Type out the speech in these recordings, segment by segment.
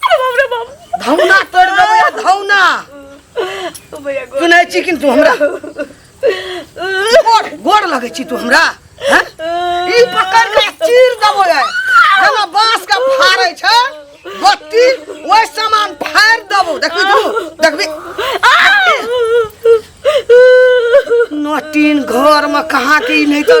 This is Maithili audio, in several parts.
धौना तोड़ देबो या धौना तू नहीं छी किंतु हमरा गोड़ गोड़ लगे छी तू हमरा हैं? ई पकड़ के चीर देबो या जेना बांस के फाड़े छै बत्ती ओइ समान फाड़ देबो देखबी तू देखबी नटीन घर में कहाँ की नहीं तो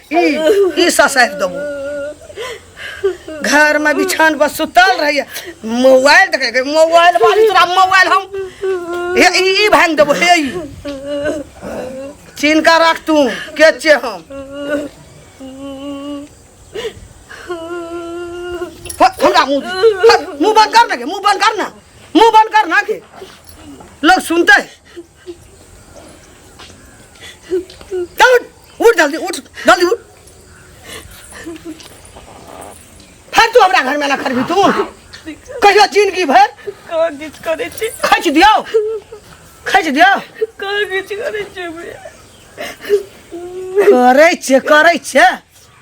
ई ई ससारि देबो घर में बिछान पर सुतल रहिए मोबाइल देखे के मोबाइल वाली तोरा मोबाइल हम हे ई ई भांग देबो हे ई चिन्ह का राख तू के छे हम फट, हमरा मुंह दे। फट, मुंह बंद कर ना के मुंह बंद कर ना मुंह बंद कर ना के लोग सुनते हैं उठ जल्दी उठ जल्दी उठ फिर तू हमरा घर में ना खरबी तू कहियो जिंदगी भर कहाँ किछ करे छी खच दियो खच दियो कहाँ किछ करे छी करे छे करे छे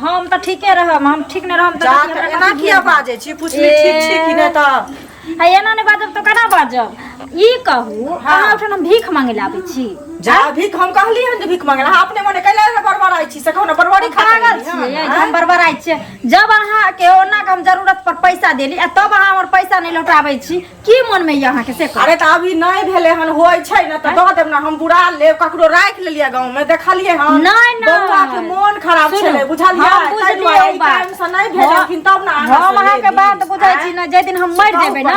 हम तऽ ठीके रहब हम ठीक नहि रहब तऽ जा कथी तऽ हमरा एना कथी किया भेल? बाजै छी पुछली ठीक छी कि नहि तऽ आ एना नहि बाजब तऽ केना बाजब ई कहू अहाँ ओहिठाम हम भीख मांगे लए आबै छी जा भीख हम कहली हन जे भीख मंगला अहाँ अपने मने कैला रे बड़बड़ाइ छी से कहू ने बड़बड़ी खा पागल छियै जे हम बरबराइ छियै जब अहाँके ओना के हम जरूरत पर पैसा देली आ तब अहाँ हमर पैसा नहि लौटाबै छी की मन में यहाँ के से अरे तो अभी नहीं भेले हन होय छै न त दह देब न हम बुरा ले ककरो राख लेलिए गांव में देखलिए हम नहीं न बौआ के मन खराब छले बुझलिए हम बुझलिए ई टाइम से नहीं भेले लेकिन तब न हम अहाँ के बात बुझै छी न जे दिन हम मर जेबे न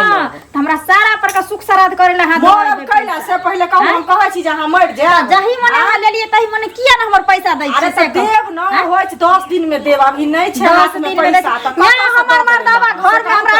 त हमरा सारा पर का सुख सराध करे ला हाथ मरब कैला से पहले कहू हम कहै छी जे हम मर जाए जही मन अहाँ लेलिए तही मन किया न हमर पैसा दै छी से देब न होय 10 दिन में देब अभी नहीं छै हाथ में पैसा त हमर मर्दावा घर में हमरा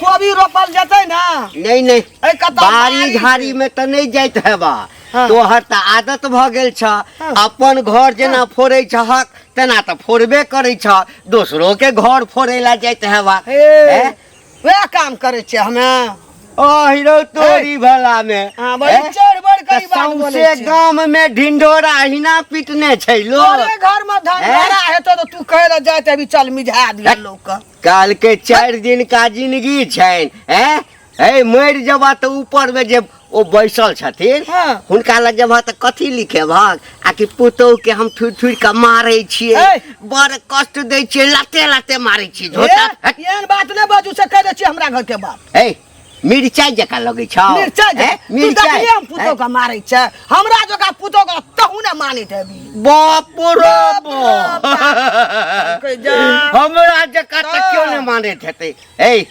कोबी रोपल जेतै ने नहीं नहीं एहि कतऽ बारी झाड़ी में तो नहीं जाइत हेबा हाँ। तोहर तो आदत भ गेल छ हाँ। अपन घर जेना फोड़े छहक तेना तो फोड़बे करे छ दोसरो के घर फोड़े ला जाइत हेबा हे हैं? वएह काम करै छियै हमे अहिरो तोरी भला में हाँ, बड़ी हैं? चढ़ बढ़ तऽ कऽ ई बात बोलै सौंसे छियै। गाम में ढिंढोरा अहिना पिटने छै लोग तोरे घर में धन हैं? भरा हेतौ तऽ तू कहै लए जाइत अभी चल मिझा दिया लोक काल के चार दिन का जिंदगी छैन हैं हे मर जबा त ऊपर में जे ओ बैसल छथिन हाँ। हुनका लग जबा त कथी लिखे भाग आ कि पुतोह के हम थुर थुर के मारे छिए ए! बड़ कष्ट दे छिए लाते लाते मारे छिए झोटा ए, एहन बात नहि बाजू से कहि दै छियै हमरा घरके बात हे मिरचाई जका लगै छौ मिरचाई जे- हैं? तू मिरचाई देखलियै हम पुतोह के मारै छै हमरा जकाँ पुतोह के तहू ने मानैत हेबी बाप रो बाप। बाप। कहि जा। हमरा जका तऽ केओ नहि मानैत हेतै ए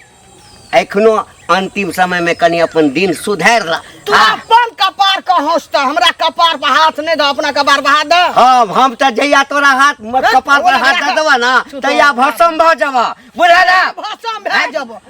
एखनो अंतिम समय में कनी अपन दिन सुधार ला तू हाँ, अपन कपार के हंस तऽ हमरा कपार पर हाथ नहि दऽ अपना कपार पर हाथ दऽ हाँ हम तऽ जहिया तोरा हाथ मत हैं? कपार पर हाथ दे देबा ना तहिया भसम भऽ जाबा बुझल है? भाषा भए जेबो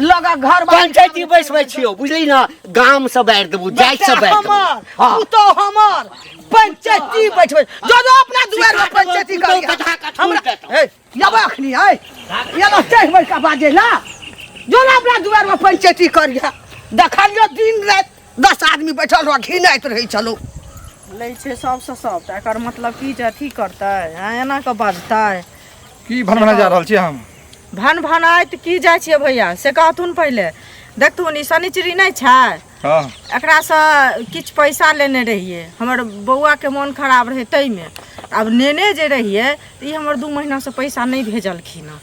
लगा घर बाड़ी पंचायती बैसबै छियौ बुझली ने गाम से बाढ़ि देबू जाय से बाढ़ि देबू हमर हाँ। पुतो हमर पंचायती बैठबै जो जो अपना दुआर में पंचायती कर पुतहु कथा का छोड़ हमरा देतौ। ए यबा अखनी है यबा चढ़ बैठ के बाजे ना जो ना अपना दुआर में पंचायती करिया देखलियो दिन रात दस आदमी बैठल रह घिनाइत रहै छलौ लै छै सबसँ सब तऽ एकर मतलब की जे अथी करतै हँ एना कऽ बजतै की भनभना जा रहल छियै हम भन भनाइत की जाइ छियै भैया से कहथुन पहिले देखथुन ई शनिचरी नहि छै हँ एकरासँ किछु पैसा लेने रहियै हमर बौआके मोन खराब रहै ताहिमे आब नेने जे रहियै तऽ ई हमर दू महीनासँ पैसा नहि भेजलखिन हँ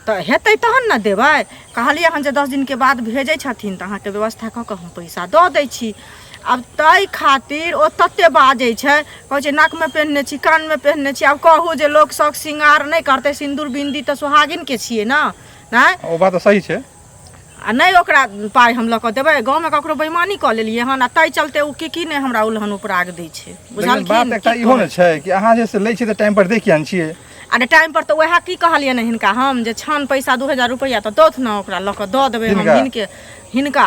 तऽ हेतै तहन ने देबै कहलियै हन जे दस दिनके बाद भेजै छथिन तऽ अहाँके व्यवस्था कऽ कऽ हम पैसा दऽ दै छी आब ताहि खातिर ओ तते बाजै छै कहै छै नाकमे पेन्हने छी कानमे पेन्हने छी आब कहू जे लोक शौक श्रृंगार नहि करतै सिन्दूर बिन्दी तऽ सोहागिनके छियै ने नहि ओ बात तऽ सही छै आ नहि ओकरा पाइ हम लऽ कऽ देबै गाँवमे ककरो बेईमानी कऽ लेलियै हन आ ताहि चलते ओ की की नहि हमरा उल्हन उपराग दै छै लेकिन बात एकटा इहो बुझलखिन ने छै कि अहाँ जे से लै छियै तऽ टाइम पर दै किया ने छियै अरे टाइम पर तऽ उएह की कहलियै ने हिनका हम जे छान पैसा दू हजार रुपैआ तऽ दौथ ने ओकरा लऽ कऽ दऽ देबै हम हिनका? हिनके हिनका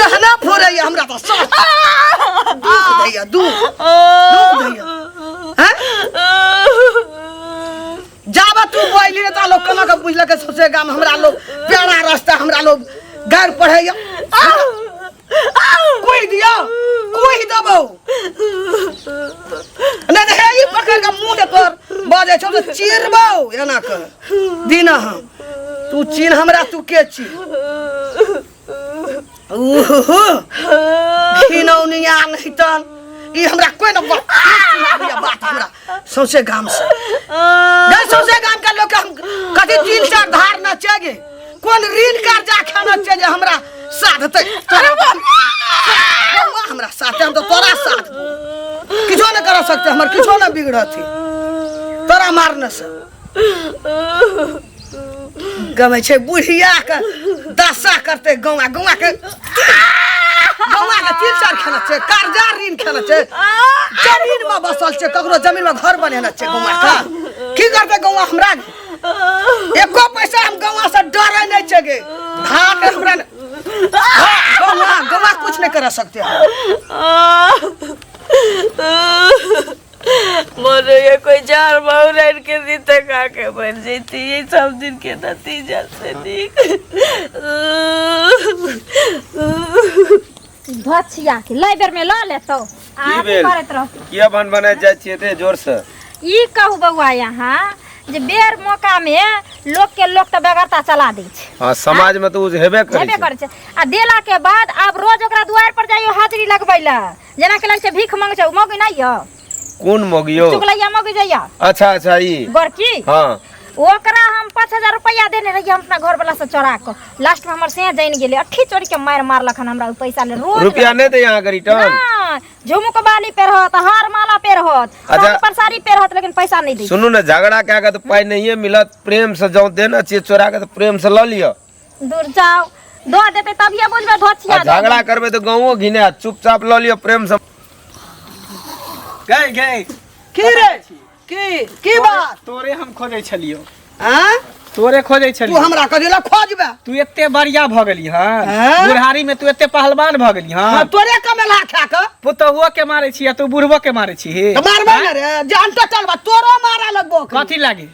कहना फोड़ैया हमरा तऽ साथ दुख दैया दुख दुख दैया हैं? जाबे तू बोली ने ता लोग कना के बुझलक के सौसे गाम हमरा लोग प्यारा रास्ता हमरा लोग गार पढ़ैया कोई दिया कोई दबो ने ने हे ई पकड़ के मुंह पर बाजे छौ त चिरबो एना के दीना हम तू चीन हमरा तू के छी खिनौनी आन हितन ई हमरा कोई न बात हमरा बात हमरा सौसे गाम से गए सौसे गाम का लोग के हम कथी तीन चार धार न चेगे कोन ऋण कर्जा खाना छे जे हमरा साथ ते अरे बाप बौआ हमरा साथ हम तो तोरा साथ किछो न कर सकते हमर किछो न बिगड़त तोरा मारने से गमे छै बुढ़िया के दशा करते गाँव गाँव के गाँव के तीन चार खेला छै कर्जा ऋण खेला छै जमीन में बसल छै ककरो जमीन में घर बनेना छै गाँव का की करते गाँव हमरा एको पैसा हम गाँव से डरे नहीं छै गे धाक हमरा न- हाँ, गाँव गाँव कुछ नहीं कर सकते मोनो ये कोई जार माऊ रैन के दी तक आके बन जाती ये सब दिन के नतीजा से ठीक भछिया के लै बेर में ल लेतौ आ की अथी भेल? करैत रह किया बन बना जाइ छियै एते जोर से ई कहू बौआ यहाँ जे बेर मौका में लोक के लोक तऽ बेगरता चला दै छै हाँ समाज में तो उ हेबे करै हेबे छै करै छै आ देला के बाद आब रोज ओकरा दुआर पर जाइयो हाजिरी लगबै लए जेना के लग से भीख मांगे छै मौगी नहीं यो कोन मौगी यौ चुगलैया मौगी जइया अच्छा अच्छा ई गोरकी हँ ओकरा हम पाँच हजार रुपया देने रहिए हम अपना घर वाला से चोरा के लास्ट में हमर सेह जान गेले अठी चोरी के मार मारलक हन हमरा उ पैसा ले रोज रुपया नहि दै अहाँके रिटर्न ना, झुमुक बाली पे रहत हार माला पे रहत अच्छा। साड़ी पर साड़ी पे रहत लेकिन पैसा नहीं दी सुनू ने झगड़ा कए कऽ तऽ पाइ नहिए मिलत प्रेमसँ जाउ देने छियै चोरा कऽ तऽ प्रेमसँ लऽ लिअ दूर जाओ दो देते तब ये बुझबे धोछिया आ झगड़ा करबे तो गाँवो घिने चुपचाप लऽ लियो प्रेम से गए गए की रे की की बात तोरे हम खोजै छलियो हैं तोरे खोजै तू छलियो हमरा कदेला खोजबे तू एते बढ़िया भऽ गेली हँ हैं? बुढ़ारी में तू एते पहलवान भऽ गेली हाँ, हँ तोरे कमेला खा के पुतहुओ के मारै छी आ तू बुढ़बो के मारै छी तो मारबे ना रे जान टटल बा तोरो मारा लगबो कथी लागे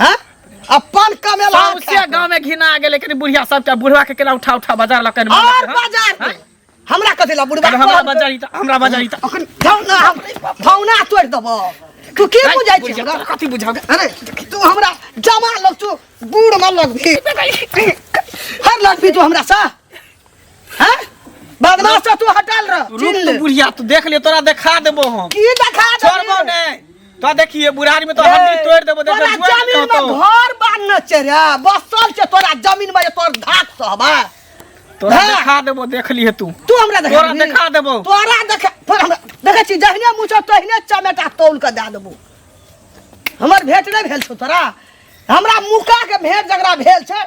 हैं अपन कमेला सौंसे गांव में घिना गेले कनी बुढ़िया सब के बुढ़वा के केला उठा उठा बाजार ला कनी और बाजार में हमरा कथि ला बुढ़वा हमरा कहल- बाजार ई त हमरा बाजार ई त अखन भौना हम भौना तोड़ देबो तू की नहीं, बुझाइ बुझ छै जाओ, कथी बुझाओ अरे तू हमरा जमा लग तू बूढ़ में लगबी हर लगबी तू हमरा सा हैं बदमाश तो तू हटल रह रुक चिल्ल। तो बुढ़िया तू देख ले तोरा देखा देबो हम की देखा दे छोड़बो नहीं तो देखिए बुढ़ारी में तो हड्डी तोड़ देबो देख तोरा जुआ नहीं जमीन में होतो घर बांधने छै रे बसल छै तोरा जमीन में जे तोर धाक सब है तोरा हाँ। देखा देबो देख लिए तू तू हमरा देखा तोरा देबही? देखा देबो। तोरा देखा पर हमरा देखै छी जहिने मुछो तहिने चमेटा तौल के दए देबो हमर भेट नहि भेल छौ तोरा हमरा मुका के भेट जकरा भेल छै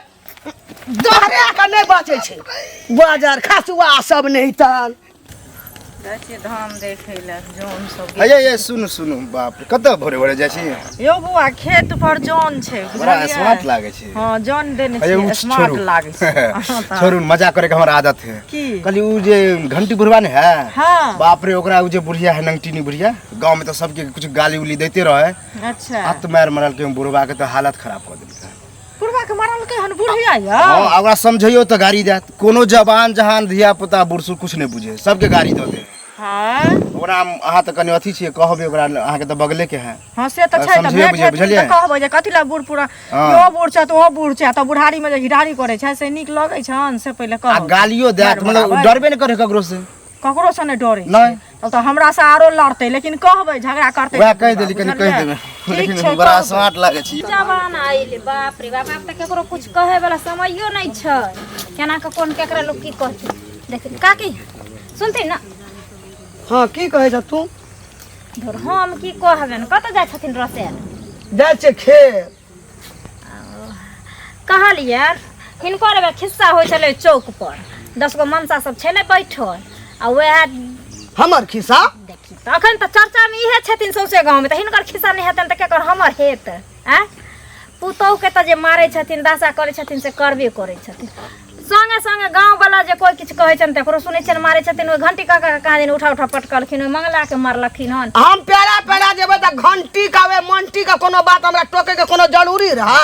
दहरे के नहि बचै छै बाजार खसुआ सब नहि तन जाइ छियै धाम देखै लए जौन सब गेल। अये ये सुनु सुनु बाप रे कतऽ भोरे भोरे जाइ छी यौ बौआ खेत पर जौन छै बड़ा बुझलियै? स्मार्ट लागे छै हँ जौन देने अये उ छै स्मार्ट छोड़ू लागै छै अहाँ तऽ- छोड़ू ने, मजाक करे के हमर आदत है की कहली उ जे घंटी बुढ़वा ने है हाँ। बाप रे ओकरा उ जे बुढ़िया है नंगटीनी बुढ़िया गांव में तो सबके कुछ गाली उली देते रहे अच्छा हाथ मार मरल के बुढ़वा के तो हालत खराब कर देलकै बुढ़वा के मरलकै हन बुढ़िया यऽ हाँ आ ओकरा समझैयो तऽ गाड़ी देत कोनो जवान जहान धिया पुता बुढ़सु कुछ नहि बुझे सबके गाड़ी दऽ दे हाँ ओकरा हम अहाँ तऽ कनि अथी छियै कहबै ओकरा अहाँके तऽ बगले के है हाँ से तऽ छै तऽ समझिए भेट बुझिए, हेतै बुझलियै? तऽ कहबै जे कथी लए बूढ़ पूरा हाँ। यो बूढ़ छै तऽ ओ बूढ़ छै तऽ बुढ़ारीमे जे घिढ़ारी करै छै से नीक लगै छन से पहिले आ कहबै गालियो देत डर मतलब बनाबै। डरबे नहि करे ककरो से ककरो से ने डरे नहीं तब तो हमरा से आरो लड़ते लेकिन कहबे झगड़ा करते वह कह देली कनी कह देबे लेकिन छै, बड़ा कहबे। स्मार्ट लागे छी जवान आइल बाप रे बाप आब तऽ केकरो कुछ कहे वाला समयो नहि छै केना के कोन केकरा लोग की कहतै देख काकी सुनते ना हाँ की कहे छ तू धुर हम की कहबे ने कतऽ जाइ छथिन रसेल जाइ छै खेत कहलियन हिनकर एगो खिस्सा होइ छलै चौक पर दस गो मनसा सब छलै बैठल आ वएह हमर खिस्सा देखी तऽ अखन तऽ चर्चामे इहे छथिन सौंसे गाँवमे तऽ हिनकर खिस्सा नहि हेतनि तऽ केकर हमर हेत आँय पुतोहूके तऽ जे मारै छथिन दासा करै छथिन से करबे करै छथिन संगे संगे गाँव वाला जे कोई किछु कहै छनि तकरो सुनै छनि मारै छथिन ओहि घंटी काका के कहाँ दिन उठा उठा पटकलखिन ओहि मंगला के मारलखिन हन हम पेड़ा पेड़ा जेबै तऽ घंटी का वे मंटी का कोनो बात हमरा टोके के कोनो जरूरी रहा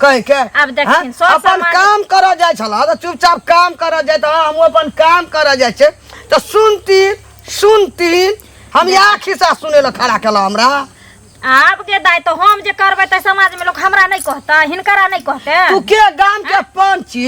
कह के आब देखथिन, हैं? सब अपन सामान- काम करऽ जाइ छल तऽ चुपचाप काम करऽ जाइ तऽ हम अपन काम करऽ जाइ छै तऽ सुनती सुनती हम इएह खिस्सा सुनै लए खड़ा केलहुँ हमरा आब के दाय तो हम जे करबै त समाज में लोग हमरा नहीं कहता हिनकरा नहीं कहते तू के गाम के पंच छी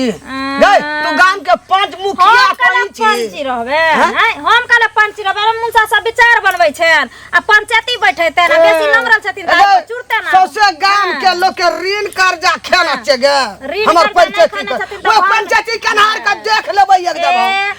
गई तू गाम के पंच मुखिया हम कला पंच छी पंची रहबे हैं? हैं? हम कला पंची रहबे अरे मुसा सब विचार बनबै छैन आ पंचायती बैठैते ना बेसी नमरल छथिन त अरे, चुरते ना सौसे गाम हाँ। के लोग के ऋण कर्जा खेला छै गे ऋण हमर कर्जा नहीं पंचायती खाने के छथिन तऽ वो हम- पंचायती कनहार के देख लेबै एकदम हम। ए,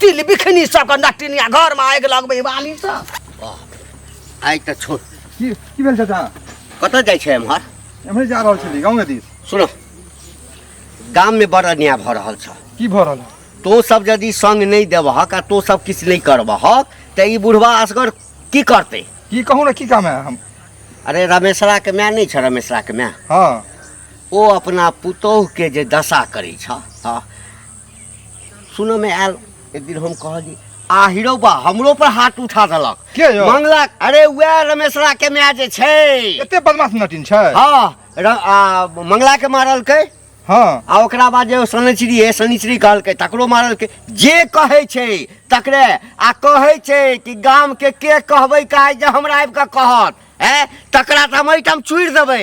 तिल बिखनी सबके नटिनिया घरमा आगि लगबै बाली सब आइ तऽ छोड़ की की भेल चाचा कतऽ जाइ छै एम्हर एम्हरे जा रहल छली गाँव दिस सुनो गाममे बड़ अन्याय भऽ रहल छ की भऽ रहल है? तो सब यदि संग नहि देबहक आ तो सब किछु नहि करबहक तऽ ई बुढ़वा असगर की करतै की कहू ने की काम है हम अरे रमेशराके माय नहि छ रमेशराके माय हँ ओ अपना पुतोहके जे दशा करै छ हँ सुनऽमे आयल एक दिन हम कहली आ हीरो बा हमरो पर हाथ उठा देलक के यौ मंगलक अरे वएह रमेशरा के माय जे छै एते बदमाश नटिन छै हाँ र, आ, मंगला के मारलकै हाँ आ ओकरा बाद जे शनिचरी है शनिचरी कहलकै तकरो मारलकै जे कहै छै तकरे आ कहै छै कि गाम के के कहबै काहे जे हमरा आबि कऽ कहत है तकरा तऽ हम एहिठाम चूड़ि देबै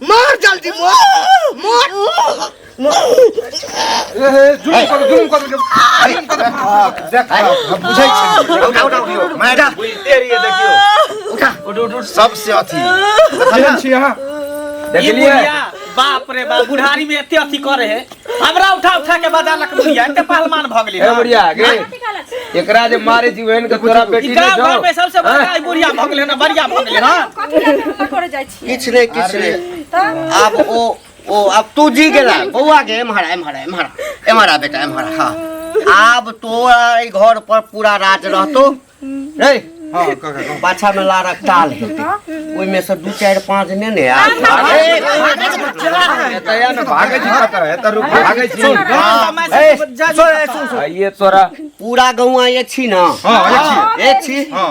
मार जल्दी मार मार जुलुम कर जुलुम कर जुलुम कर देख हम बुझै छी उठा उठा उठियो मैडा बुझते रहिए देखियो उठा उठ उठ उठ सबसे अथी देखलिए छी हां देखलिए बाप रे बाप बुढ़ारी में एते अथी करे है हमरा उठा उठा के बजा लक बुढ़िया एते पहलवान भ गेली ए बुढ़िया गे एकरा जे मारे जीवन के तोरा बेटी ने जाओ घर में सबसे बड़का बुढ़िया भ गेले ना बढ़िया भ गेले हां कथि लग करे जाय किछु नहि किछु अरे। नहि तऽ आब ओ ओ आब तू जी गेला बौआ के एम्हर आ, एम्हर आ, एम्हर आ, एम्हर आ बेटा एम्हर आ, हाँ आब तोरा एहि घर पर पूरा राज रहतो रे हाँ काका कहू। पाछा में लारक टाल हेतै ओहिमे से दू चारि पाँच ने ने आयत अरे, एतऽ या ने भागै छी कतऽ एतऽ रुक भागै छी सुन, हाँ, ए, सुन, ए, सुन, सुन। आइए तोरा पूरा गौआ ये छी ना हाँ, ये छी। ये छी हाँ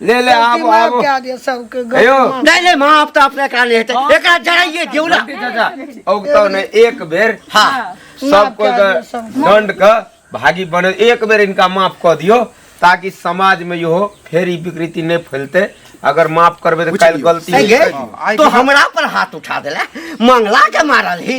ले ले आब आब कए दियो सबके कहियो नहीं नहीं माँ आप तो अपने का नहीं हेतै एकरा जराइए दियौ ना चाचा औगतो ने एक बेर हाँ सब कोई के दंड के भागी बने एक बेर इनका माफ कर दियो ताकि समाज में यो फेर ई विकृति नहीं फैलते अगर माफ करबे तो कल गलती सही है तो हमरा पर हाथ उठा देला मंगला के मारल ही